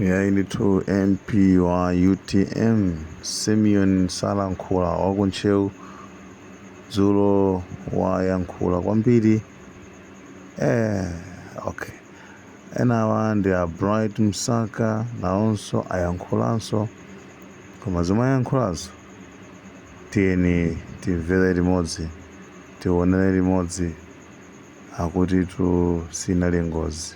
Iyayi ndithu MP wa UTM Simeon Salankhula wa ku Ntcheu dzulo wayankhula kwambiri eh, okay enawa ndi a Bright Msaka nawonso ayankhulanso koma zomwe ayankhulazo tiyeni timvere limodzi tionere limodzi akutitu sinali ngozi.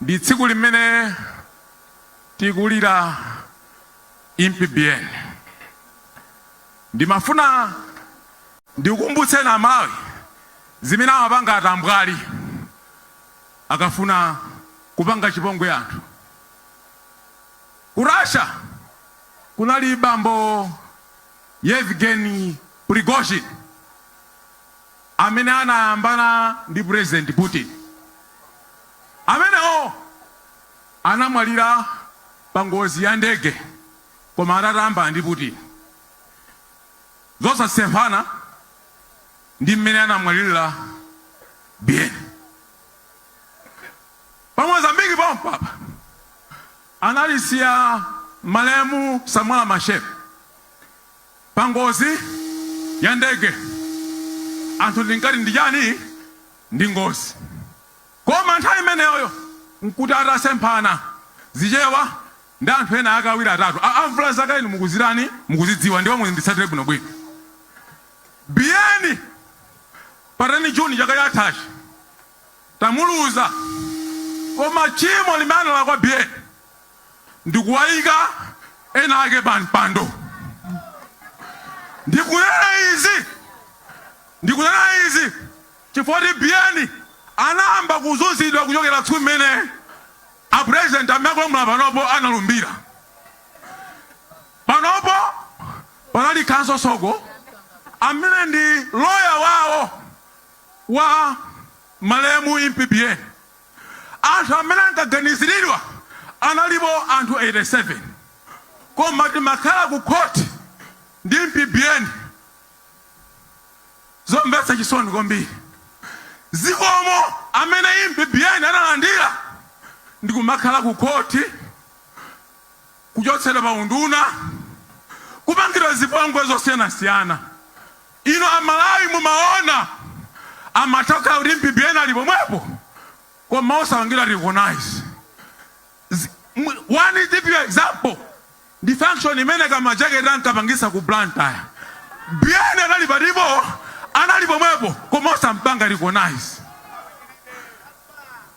ndi tsiku limene tikulira Impi Biyeni ndimafuna ndikukumbutseni a Malawi zimene amapanga atambwali akafuna kupanga chipongwe anthu ku Russia kunali bambo Yevgeny Prigozhin amene anayambana ndi President Putin. Amenewo anamwalira pa ngozi ya ndege koma atayambana ndi Putin. Zosasemphana ndi mmene anamwalirira Biyeni. Pa Mozambique pompapa analisiya malemu Samora Machel. Pa ngozi ya ndege anthu ndinkati ndi chani? Ndi ngozi. Koma nthawi imeneyoyo n'kuti atasemphana Zichewa ndi anthu ena ake awiri atatu. Amvula zakale inu mukuzitani? Mukuzidziwa ndipo muzinditsatira bwinobwino. Biyeni pa 10 June chaka chathachi tamuluza koma tchimo limene analakwa Biyeni, ndikuwaika ena ake pa mpando. Ndikunena izi ndikunena izi chifukwa choti Biyeni anayamba kuzunzidwa kuchokera tsiku limene a president amene akulamula panopo analumbira. Panopo panali Counsel Soko amene ndi loya wawo wa malemu Impi Biyeni. Anthu amene ankaganiziridwa analipo anthu 87 koma timakhala ku court ndi Impi Biyeni zomvetsa chisoni kwambiri zikomo amene Impi Biyeni analandira ndikumakhala ku court kuchotsedwa pa unduna kupangidwa zipongwe zosiyanasiyana. Inu a Malawi mumaona amatokhala kuti Impi Biyeni ali pomwepo koma osapangidwa recognize Zi, mw, one typical example ndi function imene ka majaketi ankapangisa ku Blantyre. Biyeni anali patipo anali pomwepo koma osampanga recognize.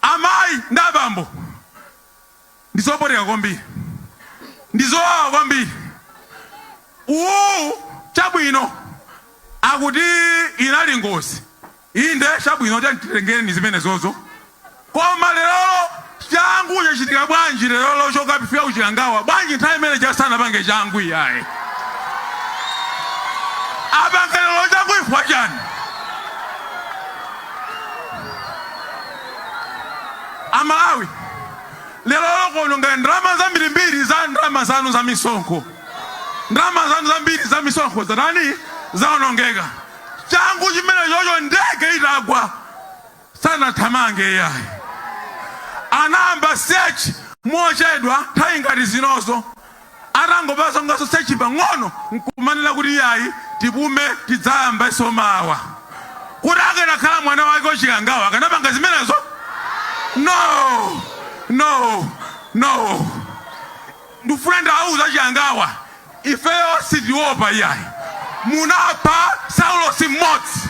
Amayi ndi abambo Ndi zopweteka kwambiri. Ndi zowawa kwambiri. Uwu, chabwino, akuti inali ngozi. Inde, chabwino, tiyeni titengereni zimenezo. Koma lerolo, changu chachitika bwanji lerolo chokapifika ku Chikangawa? Bwanji nthawi imene ija sanapange changu iyayi? Apange lero changu chifukwa chani? A Malawi lerolo kuononga ndalama zambirimbiri za ndalama zanu za misonkho. Ndalama zanu zambiri za misonkho zatani? Zaonongeka. Changu chimenechocho ndege itagwa sanathamange iyayi, anayamba search mochedwa nthawi ngati zinozo. Atangopangaso search pang'ono n'kumanena kuti, Iyayi, tipume, tidzayambenso mawa. Kodi akanakhala mwana wake a Chikangawa akanapanga zimenezo? No! No! No! Ndikufuna ndiwauze a Chikangawa, ifeyo sitiopa iyayi. Munapha Saulosi mmodzi.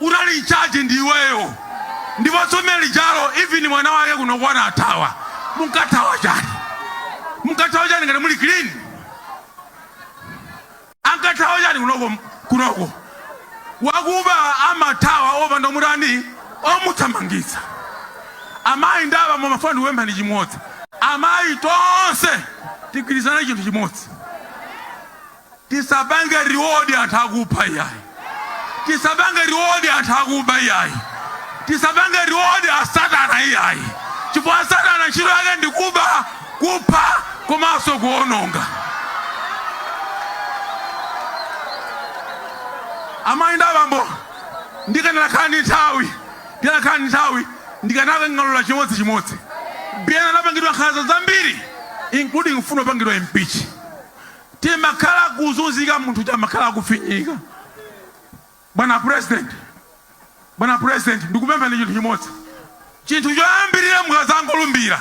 Unali in charge ndi iweyo ndipo tsiku lijalo even mwana wake kunoko anathawa munkathawa chani? Munkathawa chani ngati muli clean? Ankathawa chani kunoko? Wakuba amathawa opanda omutani omuthamangitsa. Amayi ndi abambo ndifuna ndikupempheni chimodzi. Amayi tonse tigwirizane chinthu chimodzi. Tisapange reward anthu akupha iyayi. Tisapange reward anthu akuba iyayi. Tisapange reward a satana iyayi chifukwa satana ntchito yake ndi kuba, kupha komanso kuononga. Amayi ndi abambo, ndikanakhala ndi nthawi, ndikanakhala ndi nthawi ndikanakang'alula chimodzi chimodzi. Biyeni anapangidwa nkhanza zambiri including kufuna kupangidwa impeach. Tinakhala kuzunzika munthu uja amakhala akufinyika. Bwana president, bwana president ndikupemphani chinthu chimodzi. Chinthu choyambirira mukadzangolumbira,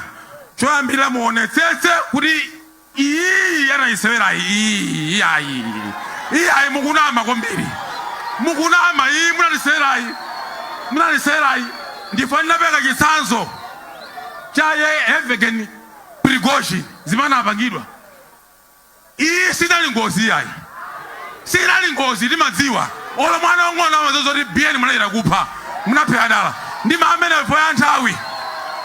choyambirira muonetsetse kuti iyiyi anayisewerayi iyiyi iyayi iyayi mukunama kwambiri. Mukunama iyi munatisewerayi munatisewerayi ndifuna ndipereke chitsanzo cha Yevgeny Prigozhin zimene anapangidwa. Iyi sinali ngozi iyayi sinali ngozi timadziwa olo mwana wang'ono amadziwa zoti biyeni munachita kupha munaphera dala ndiima pamenepo chifukwa cha nthawi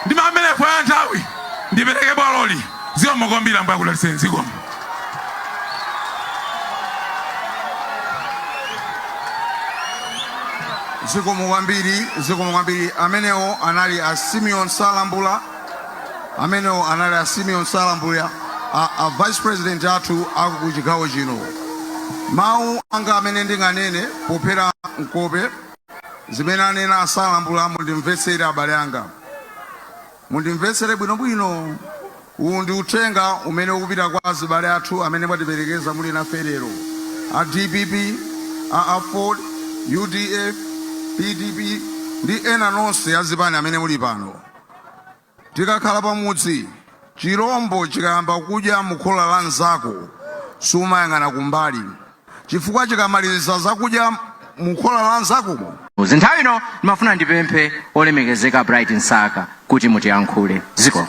ndiima pamenepo chifukwa cha nthawi ndipereke bwaloli zikomo kwambiri ambuye akudalitseni zikomo zikomo kwambiri zikomo kwambiri amenewo anali a simeon salambula amenewo anali a simeon salambula, a vice president athu aku chigawo chino mawu anga amene ndinganene pophera mkope zimene anena asalambula mundimvetsere abale anga mundimvetsere bwinobwino uwu ndi uthenga umene ukupita kwa azibale athu amene mwatiperekeza muli nafe lero a dpp a aford udf pdp ndi ena nonse azipani amene muli pano Tikakhala pamudzi, chilombo chikayamba kudya mukhola la nzako, sumayang'ana kumbali chifukwa chikamaliza zakudya mukhola la nzako. Nthawi ino ndimafuna ndipemphe olemekezeka Bright Msaka kuti mutiyankhule. Zikomo.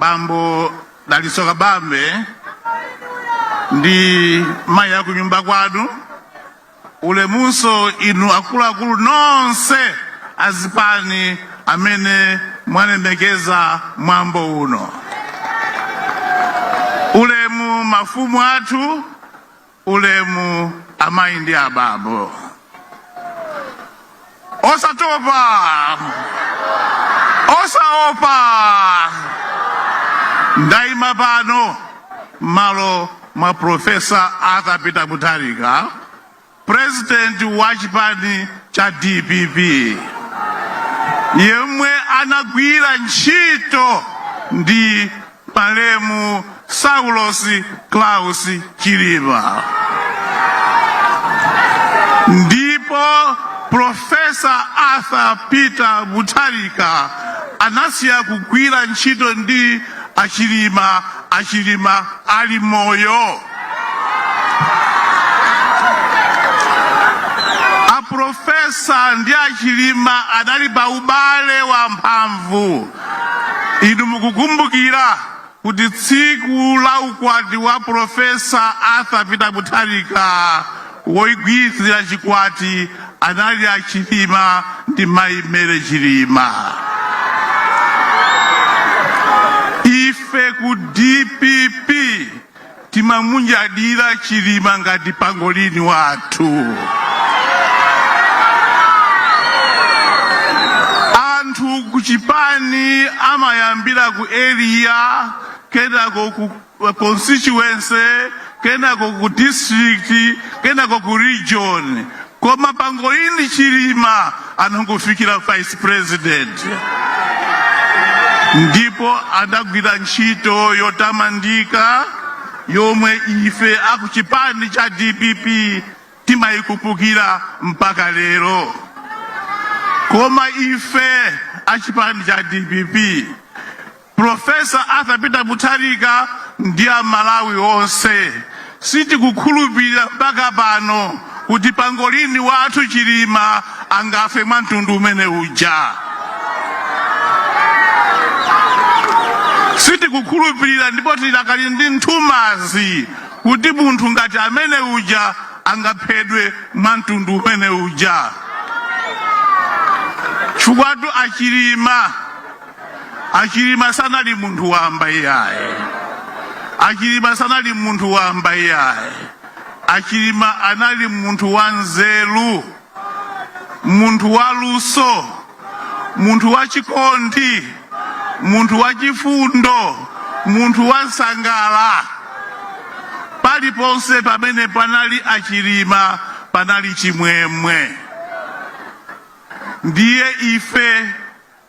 bambo dalitso kabambe ndi mayi akunyumba kwanu ulemunso inu akuluakulu nonse azipani amene mwalemekeza mwambo uno ulemu mafumu athu Ulemu amayi ndi abambo. Osatopa! Osaopa! Ndaima pano m'malo mwa Profesa Arthur Peter Mutharika, purezidenti wa chipani cha dpp, yemwe anagwira ntchito ndi Malemu Saulos Klaus Chilima ndipo Profesa Arthur Peter Mutharika anasiya kugwira ntchito ndi achilima achilima ali moyo aprofesa ndi achilima anali pa ubale wa mphamvu Inu mukukumbukira kuti tsiku la ukwati wa Profesa Arthur Peter Mutharika woigwiritsira chikwati anali a Chilima ndi Mayi Mary Chilima. Ife ku DPP Timamunyadira chilima ngati pangolini wathu. Anthu ku chipani amayambira ku area kenako ku constituency kenako ku district kenako ku region. Koma pangolini chilima anangofikira vice president ndipo anagwira ntchito yotamandika yomwe ife akuchipani cha dpp timayikumbukira mpaka lero koma ife achipani cha dpp Professor Arthur Peter Mutharika ndi a Malawi onse, sitikukhulupirira mpaka pano kuti pangolini wathu Chilima angafe mwa mtundu umene uja. Sitikukhulupirira ndipo tilakali ndi nthumazi kuti munthu ngati amene uja angaphedwe mwa mtundu umene uja. Chifukwatu a Chilima Achilima sanali munthu wamba iyaye. Achilima sanali munthu wamba iyaye. Achilima anali munthu wa nzeru, munthu wa luso, munthu wa chikondi, munthu wa chifundo, munthu wa nsangala. Paliponse pamene panali Achilima panali chimwemwe. Ndiye ife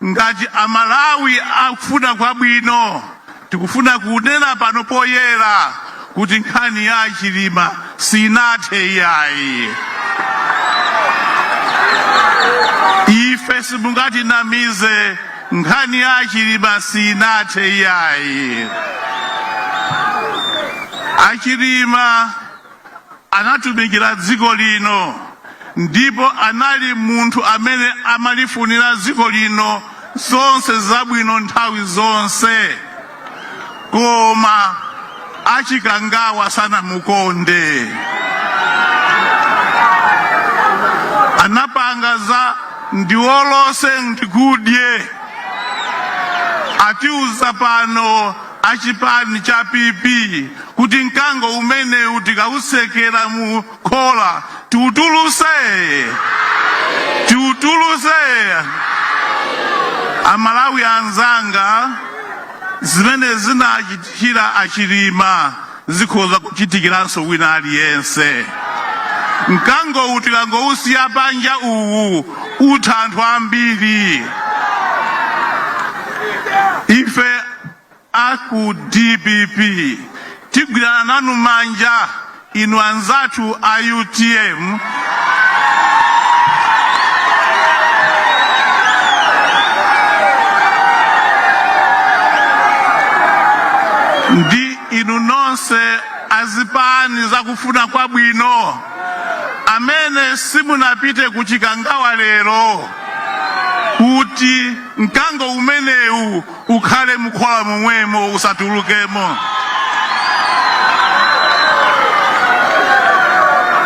Ngati a Malawi akufuna kwabwino tikufuna kunena pano poyera kuti nkhani ya a Chilima sinathe iyayi. Ife simungatinamize nkhani ya a Chilima sinathe iyayi. A Chilima Anatumikira dziko lino ndipo anali munthu amene amalifunira dziko lino zonse zabwino nthawi zonse. Koma a Chikangawa sanamukonde. Anapanga za ndiwolose ndikudye. Atiuza pano a chipani cha PP kuti mkango umenewu tikautsekera mu khola tiutuluse tiutuluse amalawi anzanga zimene zinachitikira achilima Zikhoza kuchitikiranso wina aliyense. Mkangowu tikangowusiya panja uwu utha anthu ambiri. Ife a ku dpp tigwirana nanu manja inu anzathu a utm ndi Inu nonse azipani zakufuna kwabwino amene simunapite ku Chikangawa lero kuti mkango umenewu ukhale mukhola momwemo usatulukemo.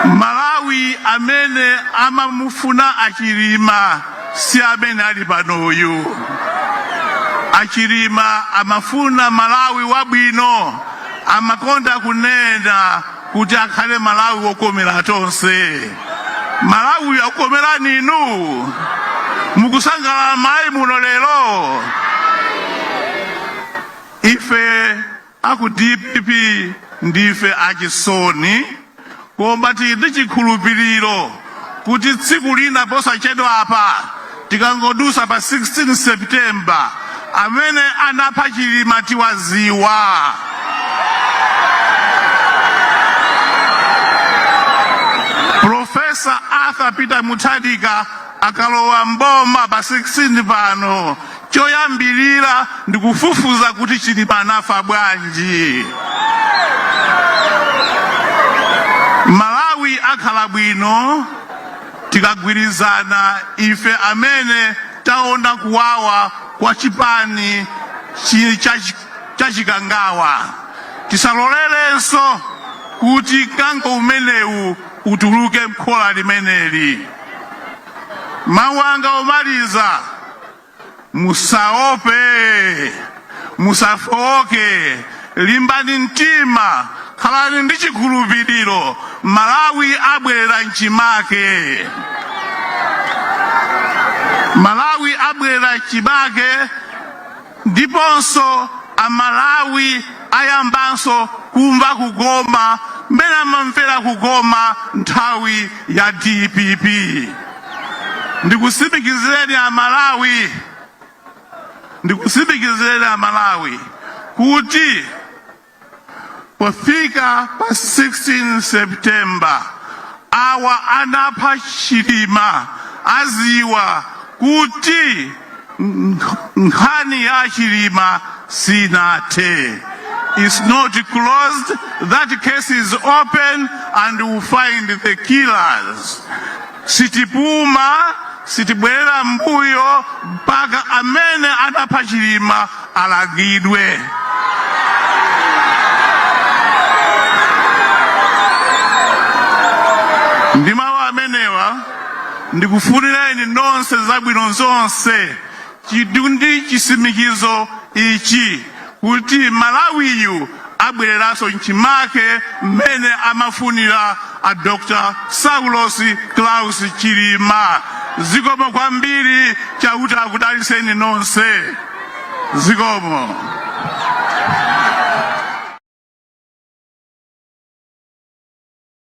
Malawi amene amamufuna achilima. Si amene ali pano uyu. A Chilima amafuna Malawi wabwino. Amakonda kunena kuti akhale Malawi wokomera tonse. Malawi uyu akukomerani inu? Mukusangalala mmayi muno lero? Ife Aku dpp ndife achisoni koma tili ndi chikhulupiliro kuti tsiku lina posachedwapa tikangodusa pa 16 September amene anapha Chilima tiwaziwa. Professor Arthur Peter Mutharika Akalowa m'boma pa 16 pano choyambilira ndikufufuza kuti Chilima anafa bwanji. Malawi akhala bwino tikagwirizana ife amene taona kuwawa kwa chipani cha chikangawa. Tisalolerenso kuti mkango umenewu utuluke mkhola limeneli. Mawu anga omaliza, musaope, musafooke, limbani mtima, khalani ndi chikhulupiriro. Malawi abwerera mchimake. Malawi abwerera mchimake. Ndiponso a Malawi ayambanso kumva kukoma mmene amamvera kukoma nthawi ya dpp. Ndikusimikizireni a Malawi, ndikusimikizireni a Malawi kuti Pofika pa 16 September awa anapha Chilima aziwa kuti nkhani ya Chilima sinathe. It's not closed. That case is open and we'll find the killers. Sitipuma, sitibwerera m'mbuyo mpaka amene anapha Chilima alangidwe. Ndi mawu amenewa, ndikufunireni nonse zabwino zonse. Chidwi ndi chisimikizo ichi kuti Malawiyu abwereranso mchimake mmene amafunira a Dr Saulos Klaus Chilima zikomo kwambiri chauta akudaliseni nonse zikomo.